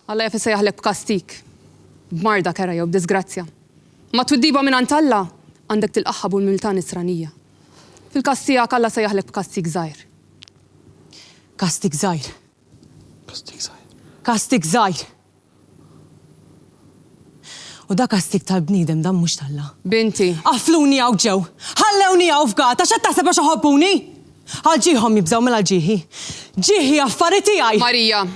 Alla jaf isejjaħlek b'kastig, b'marda, kerha jew b'diżgrazzja. Imma t-twiddiba mingħand Alla għandek tilqagħha b'umiltà Nisranija. Fil-każ tiegħek, Alla sejjaħlek b'kastig żgħir. Kastig żgħir. Kastig żgħir. Kastig żgħir. U da kastig tal-bniedem, dan mhux t'Alla. Binti. Qafluni hawn ġew! Ħallewni hawn f'gata! X'qed taħseb għax iħobbuni? Għal ġieħhom jibżgħu, mela għal ġieħi. Ġieħi affari tiegħi! Marija.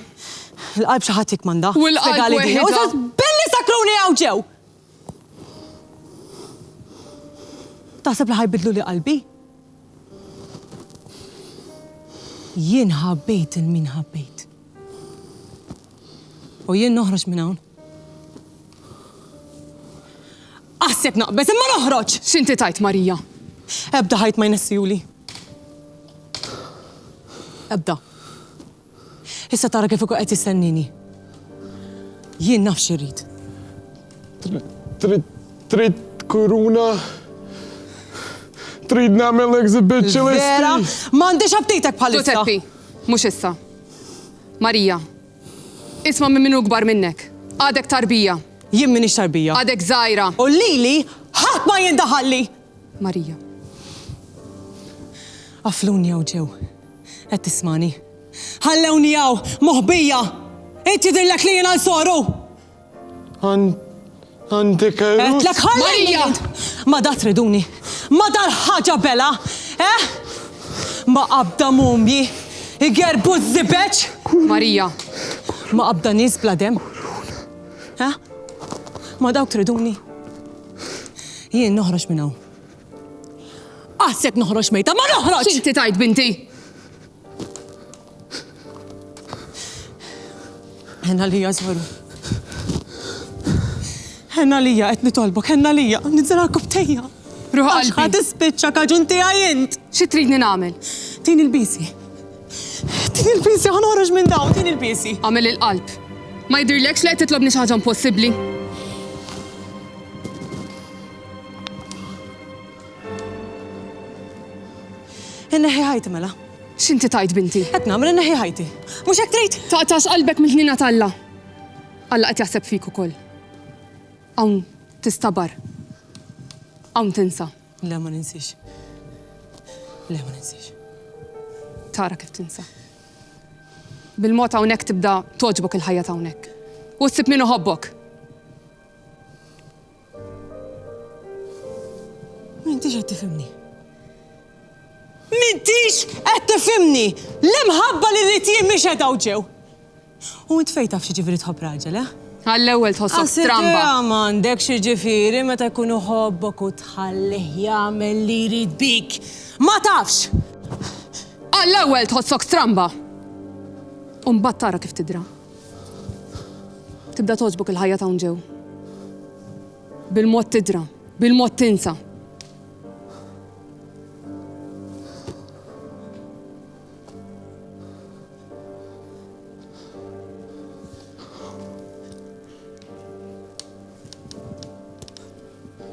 Il-qalb xi ħadd jikkmanda. U l-qalb weħidha. Belli sakruni hawn ġew! Taħseb li ħa jbiddluli qalbi? Jien ħabbejt lil min ħabbejt. U jien noħroġ minn hawn? Aħseb naqbeż imma noħroġ! X'inti tgħid, Marija? Ebda ħajt ma jnessihuli. Ebda. Issa tara kif ukoll qed jistennini. Jien naf xi rrid. Trid kuruna? Trid nagħmel exhibit ċelesti? Vera, m'għandix aptitek bħalissa. Ġużeppi, mhux issa. Marija, Isma' minn min hu kbar minnek. Għadek tarbija. Jien m'iniex tarbija. Għadek żgħira. U lili ħadd ma jindaħalli! Marija. Qafluni hawn ġew. Qed tismagħni? Ħallewni hawn, moħbija! Int jidhirlek li jiena nsoru? Għandek għerus? Għetlek ħallija! Ma da triduni, ma dal-ħaġa bela, eh? Ma qabda mumji, igerbu z-zibeċ? Marija. Ma qabda nis bla dem? Eh? Ma dawk triduni? Jien noħroġ minn hawn. Qassek noħroġ mejta, ma noħroġ! Xinti tajt binti? Ħenn għalija, żweru. Ħenn għalija, qed nitolbok, ħenn għalija, nidżel għal kubtejja. Ruħ qalbi. Ħa tispiċċa kaġun tiegħi int. Xi tridni nagħmel? Tin il-bisi. Tin il-bisi ħanoħroġ minn dawn, tin il-bisi. Għamel il-qalb. Ma jidhirlekx li qed titlobni xi ħaġa impossibbli? Inneħi ħajti mela. X'inti tgħid binti? Qed nagħmel inneħħi ħajti. Mhux hekk trid? Taqtax qalbek mill-ħniena t'Alla. Alla qed jaħseb fik ukoll. Hawn tistabar. Hawn tinsa. Le ma ninsiex. Le ma ninsiex. Tara kif tinsa. Bil-mod hawnhekk tibda togħġbok il-ħajja t'hawnhekk. U ssib min iħobbok. M'intix qed tifhimni. M'intix qed tifhimni! L-imħabba li rrid jien mhix qed hawn ġew. U int fejn taf x'jiġifieri tħobb raġel, eh? Għall-ewwel tħossok stramba. Għasibha m'għandek x'jiġifieri meta jkun iħobbok u tħallih jagħmel li jrid bik. Ma tafx! Għall-ewwel tħossok stramba. U mbagħad tara kif tidra. Tibda togħġbok il-ħajja t'hawn ġew. Bil-mod tidra, bil-mod tinsa.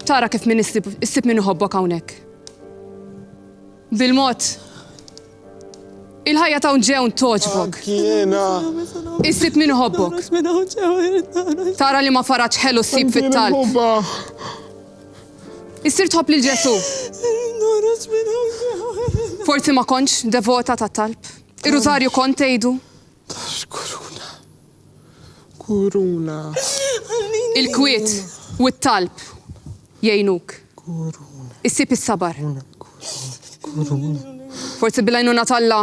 Tara kif min issib min iħobbok hawnhekk. Bil-mod, il-ħajja ta' ġewn toġbok. Kiena. Issib min iħobbok. Tara li ma faraċ ħelu ssib fit-talb. Issir tħobb lil Ġesu. Forsi ma konċ devota ta' talb. Ir-rużarju kont tgħidu. Tal kuruna. Kuruna. Il-kwiet u t-talb jgħinuk. Kuruna. Issib is-sabar. Kuruna. Forsi bil-għajnuna t'Alla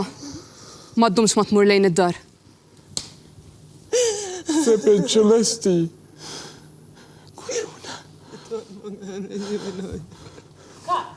ma ddumx ma tmur lejn id-dar. Ħseb il-ċelesti. Kuruna. Cut.